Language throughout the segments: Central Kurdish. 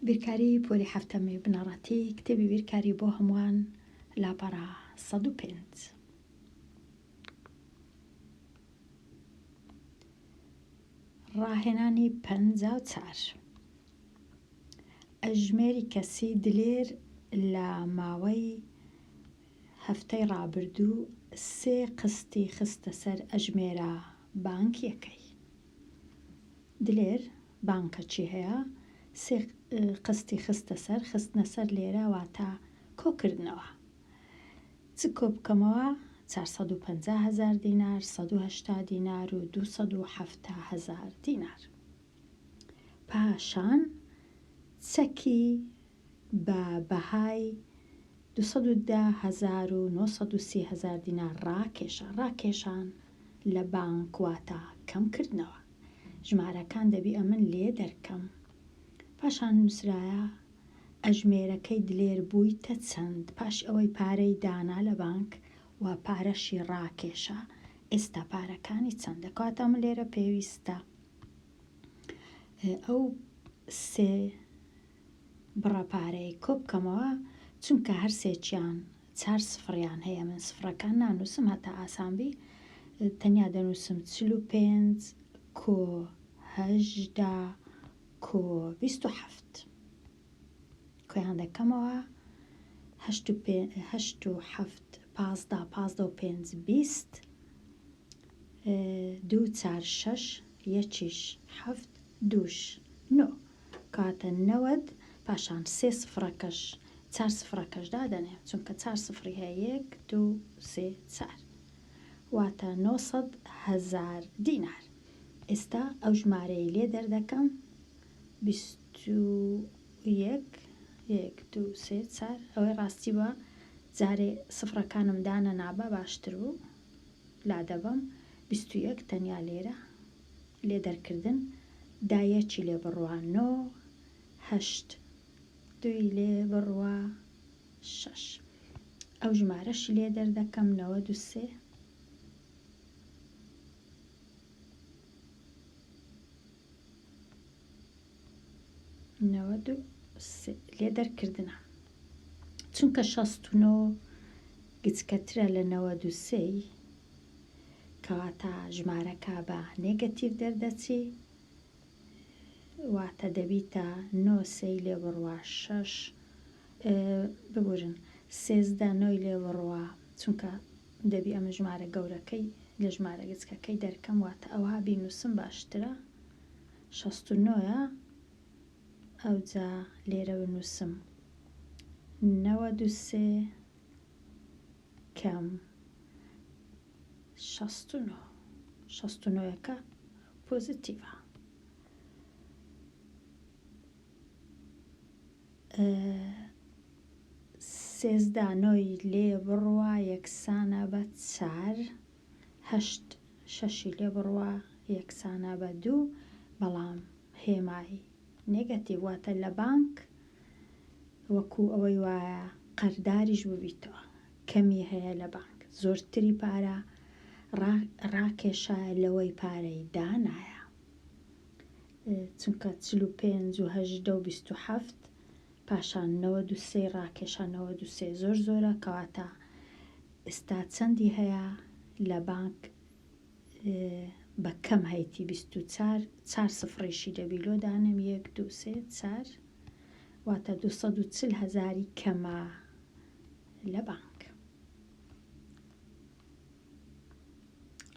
بیرکاری پۆلی حەفتەمی بنەڕەتی کتێبی بیرکاری بۆ هەمووان لاپەڕە سەد و پێنج ڕاهێنانی پەنجا و چار ئەژمێری کەسی دلێر لە ماوەی هەفتەی ڕابردوو سێ قستی خستە سەر ئەژمێرە بانکیەکەی دلێر بانکە چی هەیە؟ سێ قستی خستە سەر، خستنە سەر لێرە واتە کۆ کردنەوە. چ کۆ بکەمەوە؟ چار سەد و پەنجا هەزار دینار، سەد و هەشتا دینار و دوو سەد و حەفتا هەزار دینار. پاشان چەکی بە بەهای دوو سەد و دە هەزار و نۆ سەد و سی هەزار دینار ڕاکێشا، ڕاکێشان لە بانک واتا کەم کردنەوە. ژمارەکان دەبی ئەمن لێ دەرکەم. پاشان نووسرایە ئەژمێرەکەی دلێر بوویتە چەند پاش ئەوەی پارەی دانا لە بانک و پارەشی ڕاکێشا ئێستا پارەکانی چەندە؟ کەواتە من لێرە پێویستە ئەو سێ بڕە پارەی کۆبکەمەوە چونکە هەرسێکیان چار سفڕیان هەیە من سفڕەکان نانوسم هەتا ئاسانبی تەنیا دەنوسم چل و پێنج کۆ هەژدە کۆ بیست و حەفت کۆیان دەکەمەوە هەشت و پێ هەشت و حەفت پازدە پازدە و پێنج بیست دوو چار شەش یەکیش حەفت دووش نۆ بکاتە نەوەد پاشان سێ سفرەکەش چار سفرەکەش دادەنێ چونکە چار سفری هەیە یەک دوو سێ چار واتە نۆ سەد هەزار دینار ئێستا ئەو ژمارەی لێ دەردەکەم بیست و یەک یەک دوو سێ چار ئەوەی ڕاستی بە جارێ سفرەکانم دانە نابە باشتر بوو لادەبم بیست و یەک تەنیا لێرە لێ دەرکردن دا یەکی لێ بڕوا نۆ هەشت دووی لێ بڕوا شەش ئەو ژمارەشی لێ دەردەکەم نەوەد و سێ نەوەد و سێ لێ دەرکردنە چونکە شەست و نۆ گچکەترە لە نەوەد و سێی کەواتە ژمارەکە بە نێگەتیڤ دەردەچی واتە دەبیتە نۆ سێی لێ بڕوا شەش ببورن سێزدە نۆی لێ بڕوا چونکە دەبی ئەمە ژمارە گەورەکەی لە ژمارە گچکەکەی دەرکەم واتە ئەوها بینوسم باشترە شەست و نۆە ئەوجا لێرە بنووسم نەوە دوسێ کەم شەست و نۆ شەست و نۆیەکە پۆزیتیڤە سێزدانۆی لێ بڕوا یەکسانە بە چار هەشت شەشی لێ بڕوا یەکسانە بە دوو بەڵام هێمای نێگەتیڤ واتە لە بانک وەکو ئەوەی وایە قەرداریش ببیتەوە کەمی هەیە لە بانک زۆرتری پارە ڕاکێشایە لەوەی پارەی دانایە چونکە چل و پێنج و هەژدە و بیست و حەفت پاشان نەوە دوسێ ڕاکێشانەوە دوسێ زۆر زۆرە کەواتە ئستا چەندی هەیە لە بانک بە کەم هەیتی بیست و چار چار سفڕیشی لە بیلۆ دانێم یەک دوو سێ چار واتە دوو سەد و چل هەزاری کەمە لە بانک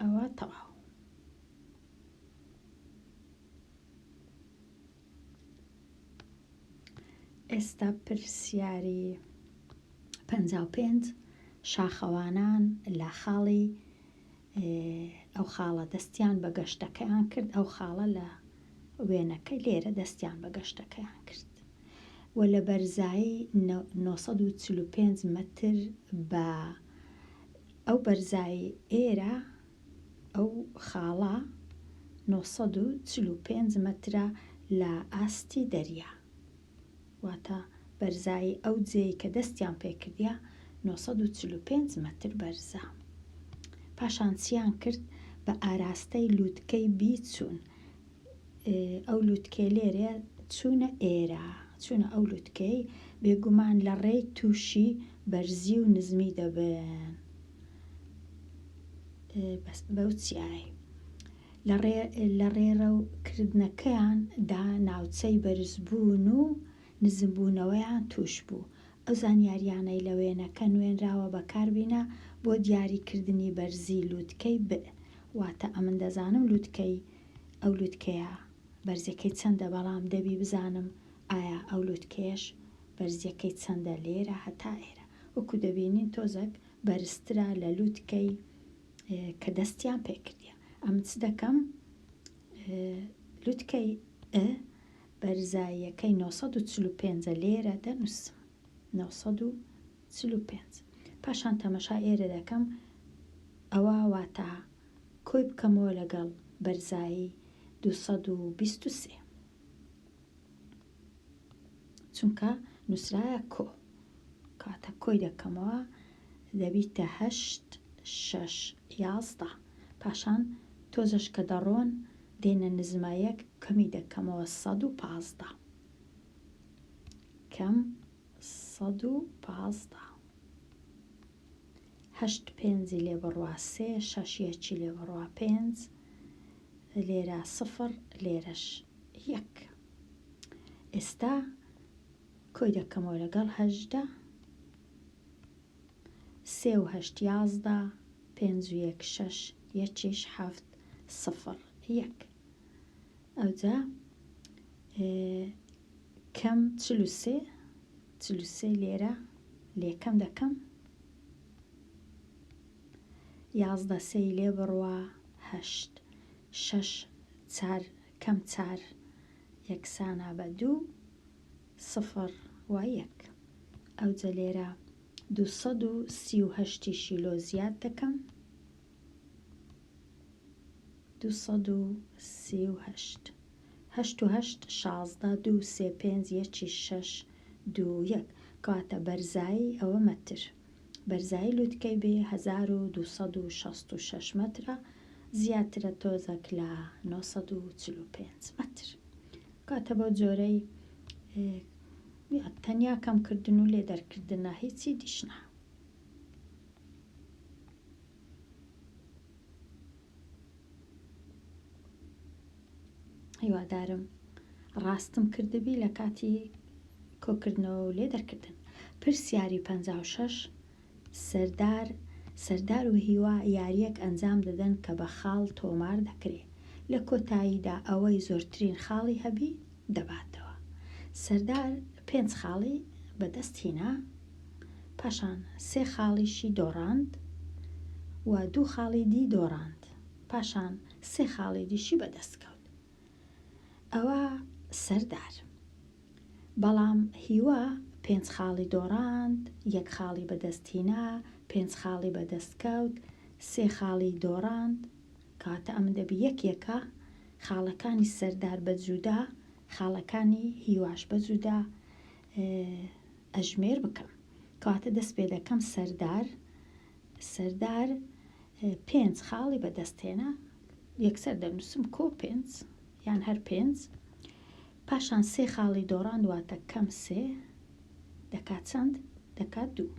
ئەوە تەواو ئێستا پرسیاری پەنجا و پێنج شاخەوانان لە خاڵی ئەو خاڵە دەستیان بە گەشتەکەیان کرد، ئەو خاڵە لە وێنەکە لێرە دەستیان بە گەشتەکەیان کرد و لە بەرزایی نۆ سەد و چل و پێنج مەتر بە ئەو بەرزایی ئێرە ئەو خاڵە نۆ سەد و چل و پێنج مەترە لە ئاستی دەریا. واتە بەرزایی ئەو جێی کە دەستیان پێکردیە نۆ سەد و چل و پێنج مەتر بەرزە پاشان چیان کرد بە ئاراستەی لوتکەی بی چوون ئەو لوتکێ لێرێ چوونە ئێرە چوونە ئەو لوتکەی بێگومان لە ڕێی تووشی بەرزی و نزمی دەبن بەس بەو چیایە لە ڕێڕەو کردنەکەیان دا ناوچەی بەرزبوون و نزمبوونەوەیان تووش بوو. ئەو زانیاریانەی لە وێنەکە نوێنراوە بەکار بینە بۆ دیاری کردنی بەرزی لووتکەی ب. واتە ئەمن دەزانم لووتکەی ئەو لووتکەیە بەرزیەکەی چەندە بەڵام دەبی بزانم ئایا ئەو لووتکەیەش بەرزیەکەی چەندە لێرە هەتا ئێرە وەکو دەبینین تۆزەک بەرزترە لە لووتکەی کە دەستیان پێکردیە ئەم چ دەکەم لوتکەی ئە بەرزاییەکەی 945 لێرە دەنووسم 945 پاشان تەمەشا ئێرە دەکەم ئەوە واتا کۆی بکەمەوە لەگەڵ بەرزایی 223 چونکە نووسراە کۆ کاتە کۆی دەکەمەوە دەبیتە هەشت شەش یازدە پاشان تۆزش کە دەڕۆن دێنە نزمە یەک کەمی دەکەمەوە سەد و پازدە کەم سەد و پازدە هەشت پێنجی لێ بڕوا سێ شەش یەکی لێ بڕوا پێنج لێرە سفر لێرەش یەک. ئێستا کۆی دەکەمەوە لەگەڵ هەژدە. سێ و هەشت یازدە پێنج و یەک شەش یەکیش حەفت سفر یەک ئەوجا کەم چل و سێ چل و سێ لێرە لێکەم دەکەم یازدە سێی لێ بڕوا هەشت شەش چار کەم چار یەکسانە بە دوو سفر و یەک ئەوجە لێرە دوو سەد و سی و هەشت یشی لۆ زیاد دەکەم دوو سەد و سی و هەشت هەشت و هەشت شازدە دوو سێ پێنج یەکی شەش دوو یەک کەواتە بەرزایی ئەوە مەتر بەرزایی لوتکەی بێ هەزار و دوو سەد و شەست و شەش مەترە، زیاترە تۆزەک لە نۆ سەد و چل و پێنج مەتر. کاتە بەو جۆرەی تەنیا کەم کردن و لێ دەرکردنە هیچی دیش نا. هیوادارم ڕاستم کردبی لە کاتی کۆکردنەوە و لێ دەرکردن پرسیاری پ شش سەردار سەردار و هیوا یاریەک ئەنجام دەدەن کە بە خاڵ تۆمار دەکرێ لە کۆتاییدا ئەوەی زۆرترین خاڵی هەبی دەباتەوە. سەردار پێنج خاڵی بە دەست هینا، پاشان سێ خاڵیشی دۆڕاند و دوو خاڵی دی دۆڕاند، پاشان سێ خاڵی دیشی بە دەست کەوت. ئەوە سەردار. بەڵام هیوا پێنج خاڵی دۆڕاند، یەک خاڵی بە دەست هینا، پێنج خاڵی بە دەست کەوت، سێ خاڵی دۆڕاند، کەواتە ئەمە دەبی یەک یەکە، خاڵەکانی سەردار بە جودا خاڵەکانی هیواش بە جودا ئەژمێر بکەم کەواتە دەست پێ دەکەم سەردار سەردار پێنج خاڵی بەدەستێنە یەکسەر دەنووسم کۆ پێنج یان هەر پێنج پاشان سێ خاڵی دۆڕان واتە کەم سێ دەکات چەند دەکات دوو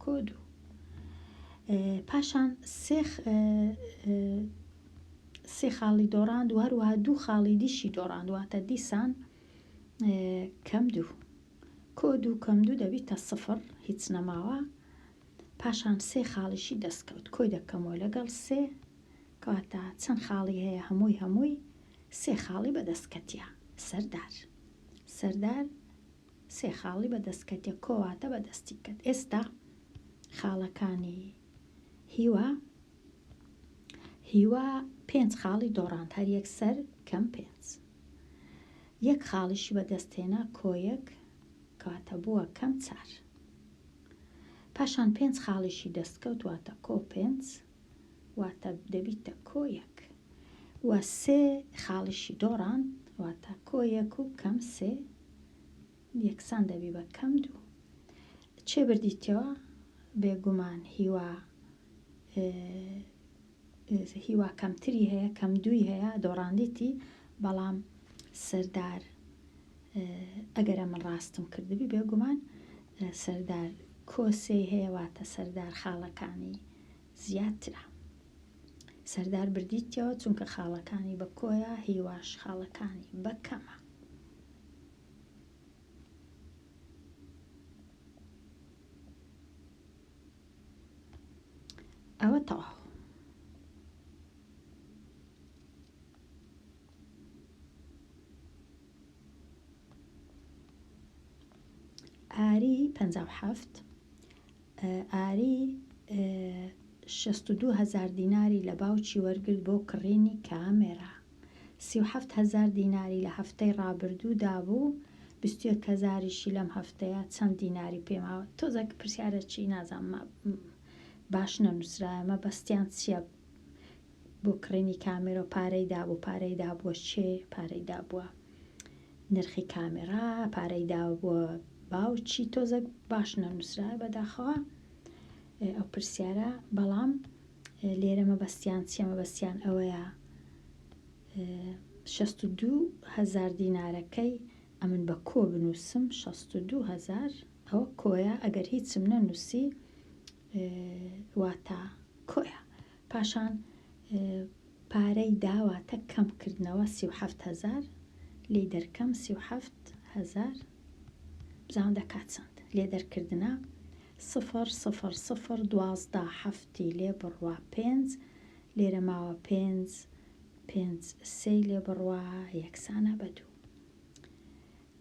کۆ دوو پاشان سێخ سێ خاڵی دۆڕاند و هەروەها دوو خاڵی دیشی دۆڕاند واتە دیسان کەم دوو کۆ دوو کەم دوو دەبیتە سفر هیچ نەماوە پاشان سێ خاڵیشی دەستکەوت کۆی دەکەمەوە لەگەڵ سێ کەواتە چەند خاڵی هەیە هەمووی هەمووی سێ خاڵی بەدەستکەتیە سەردار سەردار سێ خاڵی بەدەستکەتێ کۆواتە بەدەستی کرد ئێستا خاڵەکانی هیوا هیوا پێنج خاڵی دۆڕاند هەر یەک سەر کەم پێنج یەک خاڵیشی بەدەستهێنا کۆیەک کاتە بووە کەم چار پاشان پێنج خاڵیشی دەستکەوت واتە کۆ پێنج واتە دەبیتە کۆیەک و سێ خاڵیشی دۆڕان واتە کۆیەک و کەم سێ یەکسان دەبی بە کەم دوو چێ بردیتەوە بێگومان هیوا هیوا کەمتری هەیە کەم دووی هەیە دۆڕاندیتی بەڵام سەردار ئەگەرە من ڕاستم کردبی بێگومان سەردار کۆسێ هەیەواتە سەردار خاڵەکانی زیاترە سەردار بردیتەوە چونکە خاڵەکانی بە کۆیە هیواش خاڵەکانی بەکەمە ئەوە تەواو ئاری پ هەفت ئاری شەست و دوو هەزار دیناری لە باوکی وەرگرت بۆ کڕینی کامێرا سی و حەفت هەزار دیناری لە هەفتەی ڕابردوو دابوو بیست و یەک هەزاریشی لەم هەفتەیە چەند دیناری پێ ماوە تۆزە پرسیارە چی نازانم باش نەنووسرایە مەبەستیان چییە بۆ کڕینی کامێرۆ پارەی دابوو پارەی دابووە چێ پارەی دابووە نرخی کامێرا پارەی دابووە باو چی تۆزەک باش نەنووسرایە بەداخەوە ئەو پرسیارە بەڵام لێرە مەبەستیان چیە مەبەستیان ئەوەیە شەست و دوو هەزار دینارەکەی ئەمن بە کۆ بنووسم 62هزار ئەوە کۆیە ئەگەر هیچم نەنووسی واتا کۆیە پاشان پارەی داواتە کەمکردنەوە 3هزار لی دەرکەم 3هزار بزانم دەکات چەند لێ دەرکردنە سفر سفر سفر دوازدە حەفتی لێ بڕوا پێنج لێرە ماوە پێنج پێنج سێ لێ بڕوا یەکسانە بە دوو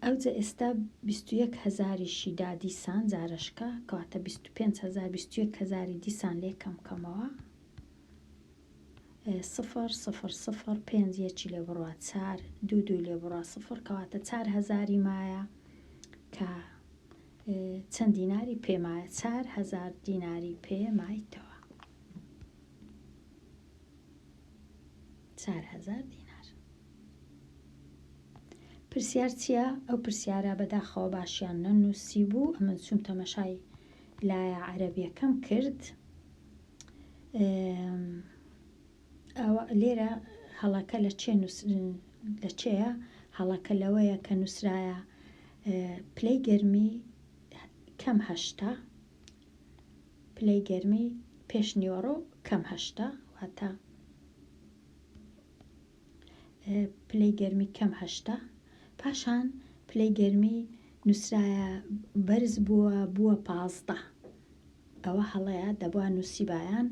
ئەوجە ئێستا بیستویەک هەزاریشی دا دیسان جارشکە کەواتە بیست و پێنج هەزار بیستویەک هەزاری دیسان لێ کەم کەمەوە سفر سفر سفر پێنج یەکی لێ بڕە چار دوو دووی لێ بڕە سفر کەواتە چار هەزاری مایە کە چەند دیناری پێمایە چار هەزار دیناری پێمایتەوە چار هەزار دینار پرسیار چییە ئەو پرسیارە بەداخەوە باشیان نەنووسی بوو ئەمن چوم تەمەشای لایە عەربیەکەم کرد لێرە هەڵەکە لە چێ لە چێە هەڵەکە لەوەیە کە نووسراە پلەی گەرمی کەم هەشتا پلەی گەرمی پێش نیوەڕۆ کەم هەشتا واتە پلەی گەرمی کەم هەشتە پاشان پلەی گەرمی نووسرایە بەرز بووە بووە پازدە ئەوە هەڵەیە دەبووە نووسیبایان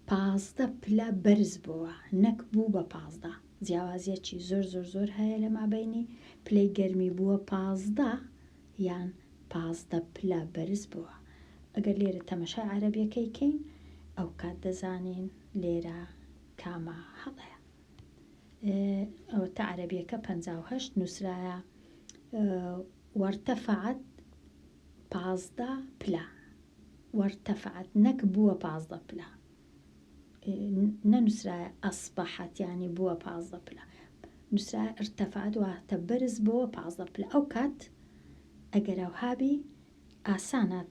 پازدە پلە بەرز بووە نەک بوو بە پازدە جیاوازیەکی زۆر زۆر زۆر هەیە لە مابینی پلەی گەرمی بووە پازدە یان پازدە پلە بەرز بووە، ئەگەر لێرە تەمەشای عەرەبیەکەی کەین ئەوکات دەزانین لێرە کامە هەڵەیە ئەوەتا عەرەبیەکە پەنجا و هەشت نووسرایە وەرتەفعەت پازدە پلە وەرتەفعەت نەک بووە پازدە پلە نەنووسرایە ئەسبەحەت یانی بووە پازدە پلە نووسرایە ارتەفەعەت واتە بەرز بۆوە پازدە پلە ئەو کات ئەگەر ئەوهابی ئاسانە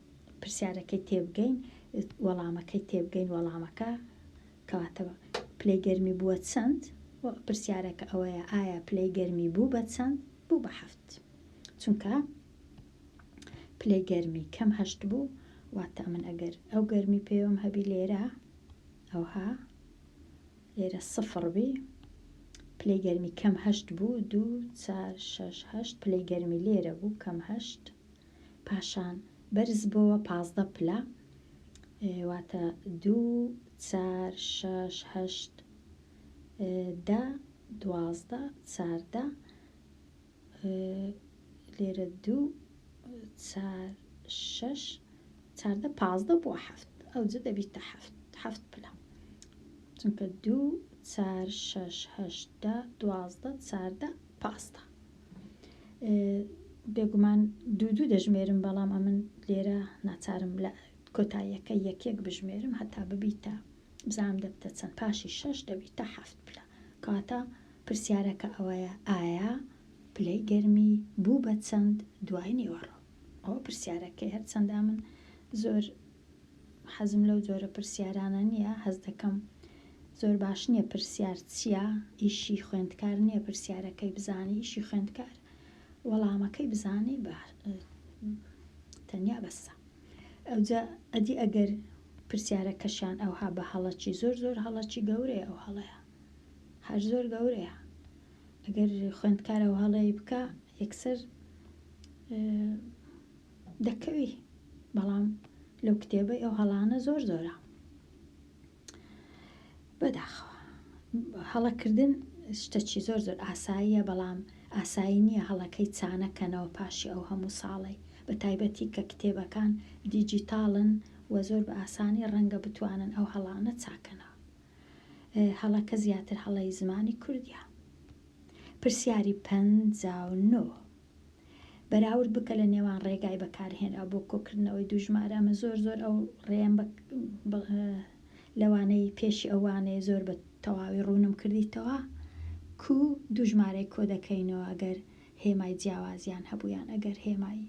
پرسیارەکەی تێبگەین وەڵامەکەی تێبگەین وەڵامەکە کەواتە پلەی گەرمی بووە چەند پرسیارەکە ئەوەیە ئایا پلەی گەرمی بوو بە چەند بوو بە هەفت چونکە پلەی گەرمی کەم هەشت بوو واتا من ئەگەر ئەو گەرمی پێوەم هەبی لێرە ئەوها لێرە سفڕ بی پلەی گەرمی کەم هەشت بوو دوو چار شش هەشت پلەی گەرمی لێرە بوو کەم هەشت پاشان بەرز بۆوە پازدە پلە واتە دوو چار شش هەشت دە دوازدە چاردە لێرە دوو چار شەش چاردە پازدە بۆ حەفت ئەو جە دەبیتە حەفت حەفت پلە چونکە دوو چار شەش هەشتا دوازدە چاردە پازدە بێگومان دوو دوو دەژمێرم بەڵام ئەمن لێرە ناچارم لە کۆتاییەکە یەکێک بژمێرم هەتا ببیتە بزانم دەبتە چەند پاشی شەش دەبیتە حەفت پلە کەواتە پرسیارەکە ئەوەیە ئایا پلەی گەرمی بوو بە چەند دوای نیوەڕۆ ئەوە پرسیارەکەی هەرچەندا من زۆر حەزم لەو جۆرە پرسیارانە نییە هەز دەکەم زۆر باش نییە پرسیار چییە ئیشی خوێندکار نییە پرسیارەکەی بزانی ئیشی خوێندکار وەڵامەکەی بزانی بە تەنیا بەسە ئەوجا ئەدی ئەگەر پرسیارەکەشیان ئەوها بە هەڵە چی زۆر زۆر هەڵە چی گەورەیە ئەو هەڵەیە هەر زۆر گەورەیە ئەگەر خوێندکارە و هەڵەیە بکە یەکسەر دەکەوی بەڵام لەو کتێبەی ئەو هەڵانە زۆر زۆرە بەداخەوە هەڵەکردن شتەکی زۆر زۆر ئاساییە بەڵام ئاسایی نیە هەڵەکەی چانە کەنەوە پاشی ئەو هەموو ساڵەی بە تایبەتی کە کتێبەکان دیجیتاڵن و زۆر بە ئاسانی ڕەنگە بتوانن ئەو هەڵانە چاکەنەوە هەڵەکە زیاتر هەڵەی زمانی کوردیە پرسیاری پەنجا و نۆ. بەراورد بکە لە نێوان ڕێگای بەکارهێنراو بۆ کۆکردنەوەی دوو ژمارە ئەمە زۆر زۆر ئەو ڕێم لەوانەی پێشی ئەو وانەیە زۆر بە تەواوی ڕوونم کردیتەوە کو دوو ژمارەی کۆ دەکەینەوە ئەگەر هێمای جیاوازیان هەبوویان ئەگەر هێمای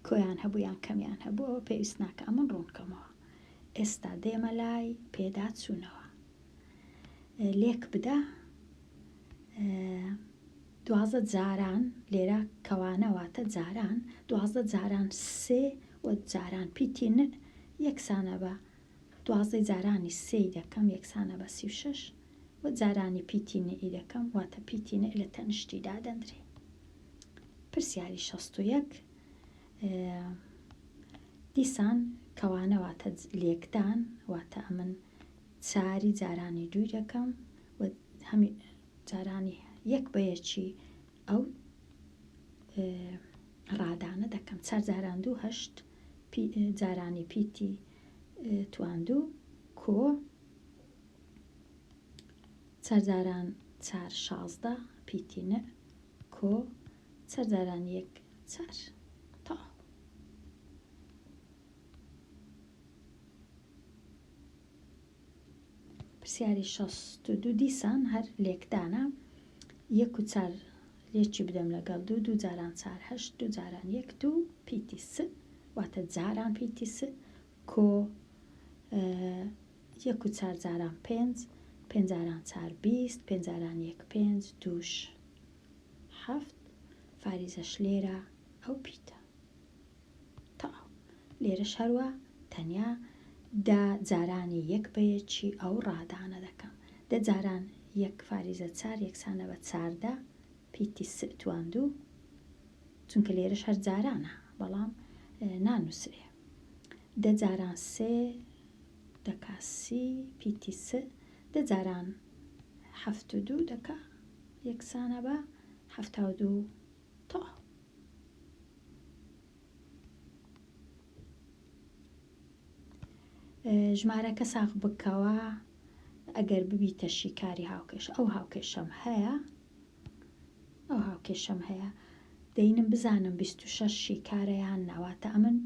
کۆیان هەبوویان کەمیان هەبوو ئەوە پێویست ناکە ئەمن ڕوونکەمەوە ئێستا دێمە لای پێدا چوونەوە لێک بدە دوازدە جاران، لێرە کەوانە واتە جاران، دوازدە جاران سێ و جاران پیتی نء یەکسانە بە دوازدەی جارانی سێی دەکەم یەکسانە بە سی و شەش و جارانی پیتی نئی دەکەم واتە پیتی نء لە تەنیشتی دادەندرێ. پرسیاری شەست و یەک، دیسان کەوانە واتە لێکدان واتە ئەمن ساری جارانی دووی دەکەم و هەمی جارانی یەک بە یەکی ئەو ڕادانە دەکەم چار جاران دوو هەشت جارانی پیتی تواندوو کۆ چارجاران چار شازدە پیتی نە کۆ چارجاران یەک چار تاو پرسیاری شەست و دوو دیسان هەر لێکدانە یەک و چار لێکی بدەم لەگەڵ دوو دوو جاران چار هەشت دوو جاران یەک دوو پیتی س واتە جاران پیتی س کۆ یەک و چار جاران پێنج پێنجاران چار بیست پێنجاران یەک پێنج دووش هەفت فاریزەش لێرە ئەو پیتە تەواو. لێرەش هەروا تەنیا دە جارانی یەک بە یەکی ئەو ڕادانە دەکەم. دە جاران یەک فاریزە چار یەکسانە بە چاردە پیتی س تواندوو، چونکە لێرەش هەر جارانە، بەڵام نانووسرێ. دە جاران سێ دەکا سی پیتی س، دە جاران حەفت و دوو دەکا یەکسانە بە حەفتا و دوو. تۆ. ژمارەکە ساغ بکەوە ئەگەر ببیتە شیکاری هاوکێش ئەو هاوکێشەم هەیە ئەو هاوکێشەم هەیە دەینم بزانم 26 شیکارەیان ناواتە ئەمن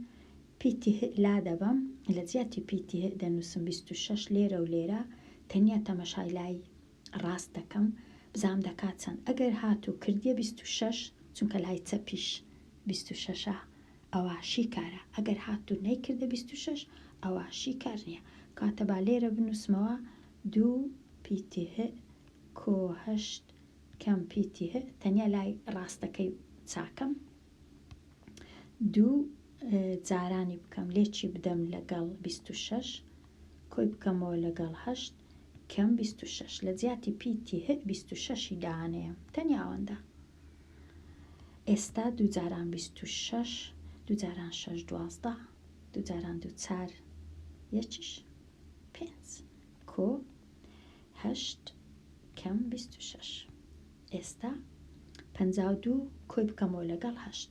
پیتی لا دەبم لە جیاتی پیتی دەنووسم 26 لێرە و لێرە تەنیا تەمەشای لای ڕاست دەکەم بزانم دەکات چەند ئەگەر هاتوو کردیە بیست و شەش چونکە لای چەپیش بیست و شەشە ئەوا شیکارە ئەگەر هاتوو نەیکردە بیست و شەش ئەوا شیکار نییە کاتە با لێرە بنووسمەوە دوو پیتی هئ کۆ هەشت کەم پیتی هئ تەنیا لای ڕاستەکەی چاکەم دوو جارانی بکەم لێکی بدەم لەگەڵ بیست و شەش کۆی بکەمەوە لەگەڵ هەشت کەم بیست و شەش لە جیاتی پی تی هک بیست و شەشی دانێم تەنیا ئەوەندە ئێستا دوو جاران بیست و شەش دوو جاران شەش دوازدە دوو جاران دوو چار یەکیش پێنج کۆ هەشت کەم بیست و شەش ئێستا پەنجا و دوو کۆی بکەمەوە لەگەڵ هەشت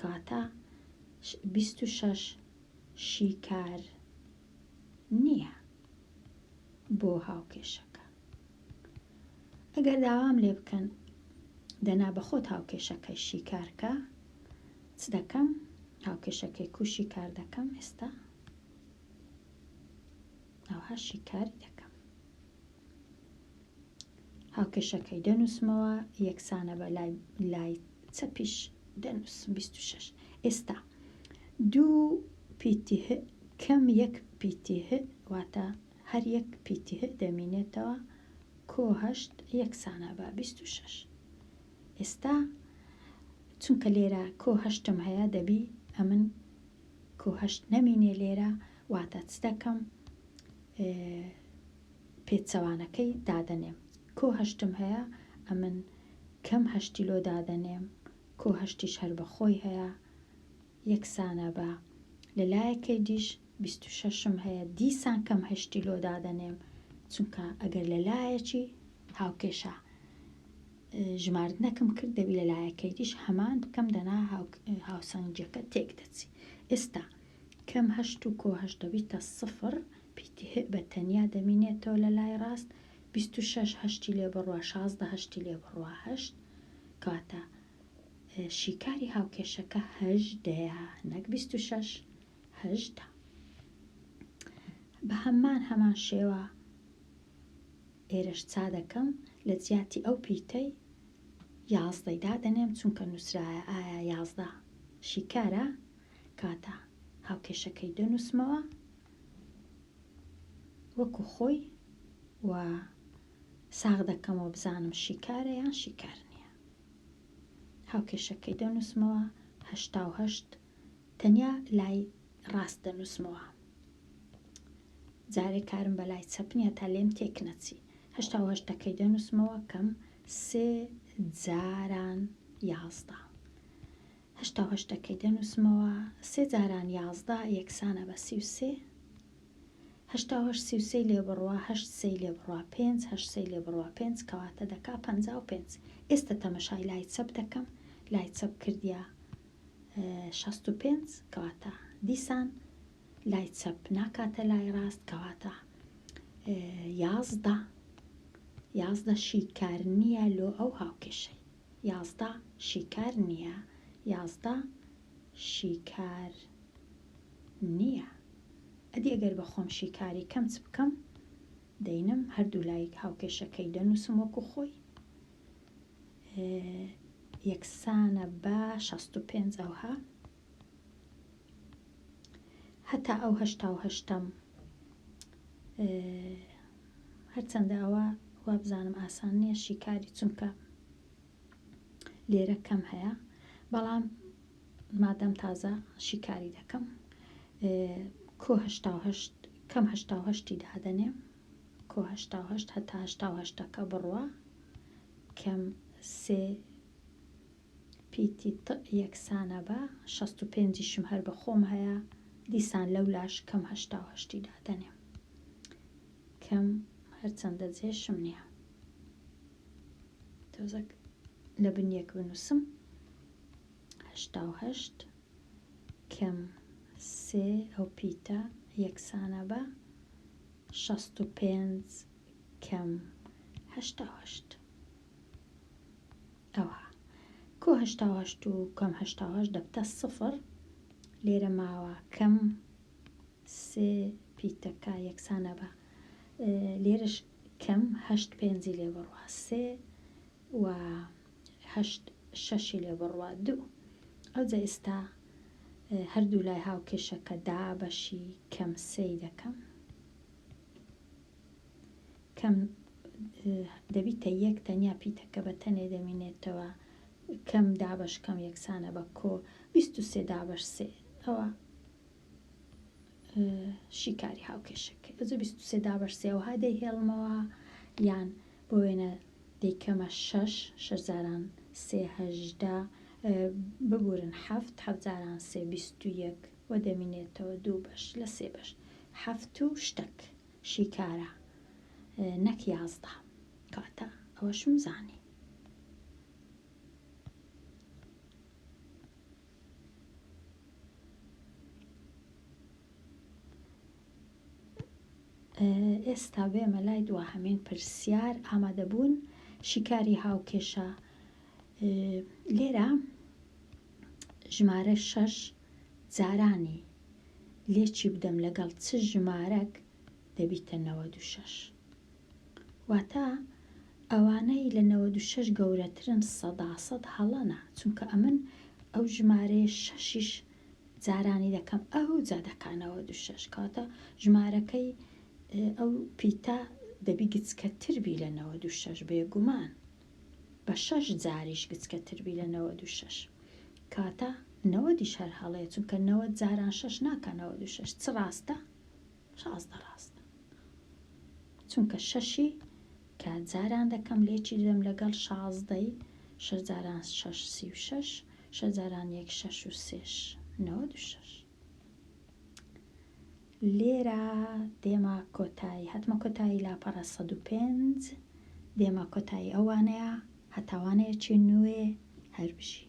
کاتا بیست و شەش شیکار نییە بۆ هاوکێشەکە ئەگەر داوام لێ بکەن دەنا بەخۆت هاوکێشەکەی شیکارکە چ دەکەم هاوکێشەکەی کوشی کار دەکەم ئێستا ئەوها شیکاری دەکەم هاوکێشەکەی دەنووسمەوە یەکسانە بە لای لای چەپیش دەنووسم 26 ئێستا دوو پیتیه کەم یەک پیتیه واتە هەر یەک پیتیه دەمینێتەوە کۆ هەشت یەکسانە بە 26 ئێستا چونکە لێرە کۆ هەشتم هەیە دەبی ئەمن کۆ هەشت نەمینێ لێرە واتە چ دەکەم پێچەوانەکەی دادەنێم کۆ هەشتم هەیە ئەمن کەم هەشتی لۆ دادەنێم کۆ هەشتیش هەر بە خۆی هەیە یەکسانە بە لە لایەکەی دیش بیست و شەشم هەیە دیسان کەم هەشتی لۆ دادەنێم چونکە ئەگەر لە لایەکی هاوکێشە ژماردنەکەم کرد دەبی لە لایەکەی دیش هەمان بکەم دەنا هاوسەنگیەکە تێک دەچی ئێستا کەم هەشت و کۆ هەشت دەبیتە سفر، پیتی هئ بە تەنیا دەمینێتەوە لە لای ڕاست، بیست و شەش هەشتی لێ بڕوا شازدە هەشتی لێ بڕوا هەشت، کەواتە شیکاری هاوکێشەکە هەژدەیە نەک بیست و شەش، هەژدە. بە هەمان هەمان شێوە ئێرەش چا دەکەم لە جیاتی ئەو پیتەی یازدەی دادەنێم چونکە نووسرایە ئایا یازدە شیکارە کاتە هاوکێشەکەی دەنووسمەوە وەکو خۆی و ساغ دەکەمەوە بزانم شیکارە یان شیکار نییە هاوکێشەکەی دەنووسمەوە هەشتا و هەشت تەنیا لای ڕاست دەنووسمەوە جارێک کارم بە لای چەپنیە تا لێم تێک نەچی هەشتا و هەشتەکەی دەنووسمەوە کەم سێ جاران یازدە هەشتا و هەشت دەکەی دەنووسمەوە سێ جاران یازدە یەکسانە بە سی و سێ هەشتا و هەشت سی و سێی لێ بڕە هەشت سێی لێ بڕە پێنج هەشت سێی لێ بڕە پێنج کەواتە دەکا پەنجا و پێنج ئێستە تەمەشای لای چەپ دەکەم لای چەپ کردیە شەست و پێنج کەواتە دیسان لای چەپ ناکاتە لای ڕاست کەواتە یازدە یازدە شیکار نییە لۆ ئەو هاوکێشەی یازدە شیکار نییە یازدە شیکار نییە ئەدی ئەگەر بە خۆم شیکاری کەم چ بکەم دەینم هەردوو لای هاوکێشەکەی دەنووسم وەکو خۆی یەکسانە بە شەست و پێنج ئەوها هەتا ئەو هەشتا و هەشتەم هەرچەندە ئەوە وابزانم ئاسان نییە شیکاری چونکە لێرە کەم هەیە بەڵام مادەم تازە شیکاری دەکەم کۆهشتا کەم هشتا هشتی دادەنێ کۆهشتا هشت هەتا هشتا هشتەکە بڕوە کەم سێ پیتی تئ یەکسانە بە شەست و پێنجیشم هەر بە خۆم هەیە دیسان لەولاش کەم هەشتا و هەشتی دادەنێم کەم هەرچەندە جێشم نییە تۆزەک لە بن یەک بنووسم هەشتا و هەشت کەم سێ ئەو پیتە یەکسانە بە شەست و پێنج کەم هەشتا و هەشت ئەوە کۆ هەشتا و هەشت و کەم هەشتا و هەشت دەبتە سفر لێرە ماوە کەم سێ پیتەکە یەکسانە بە لێرەش کەم هەشت پێنجی لێ بڕوە سێ و هەشت شەشی لێ بڕوە دوو ئەوجە ئێستا هەردوو لای هاوکێشەکە دا بەشی کەم سێی دەکەم کەم دەبیتە یەک تەنیا پیتەکە بە تەنێ دەمینێتەوە کەم دابەش کەم یەکسانە بە کۆ بیست و سێ دابەش سێ ئەوە شیکاری هاوکێشەکە ئەزە بیست و سێ دابەش سێوها دەیهێڵمەوە یان بۆ وێنە دەیکەمە شەش شەزاران سێهدە ببورن هەفت حەزاران سێ بیست و یەک و دەمینێتەوە دوو بەش لە سێ بەش حەفت و شتەک شیکارە نەک یازدە کاتە ئەوەشم زانی ئێستا بێمە لای دواهەمین پرسیار ئامادەبوون شیکاری هاوکێشە لێرە ژمارە شەش جارانی لێ چی بدەم لەگەڵ چ ژمارەک دەبیتە نەوەد و شەش واتە ئەوانەی لە نەوەد و شەش گەورەترن سەدا سەد هەڵەنا چونکە ئەمن ئەو ژمارەیە شەشیش جارانی دەکەم ئەو جا دەکانەوە دو شەش کاتە ژمارەکەی ئەو پیتا دەبی گچکەتر بی لە نەوە دو شەش بێگومان بە شەش جاریش گچکەتر بی لە نەوەد و شەش کەواتە نەوەدیش هەر هەڵەیە چونکە نەوەد جاران شەش ناکا نەوەد و شەش چ ڕاستە شازدە ڕاستە چونکە شەشی کە جاران دەکەم لێکی دەم لەگەڵ شازدەی شەش جاران شەش سی و شەش شەش جاران یەک شەش و سێش نەوەد و شەش لێرە دێمە کۆتایی هاتمە کۆتایی لاپەڕە سەد و پێنج دێمە کۆتایی ئەو وانەیە هەتا وانەیەکی نوێ هەربژی.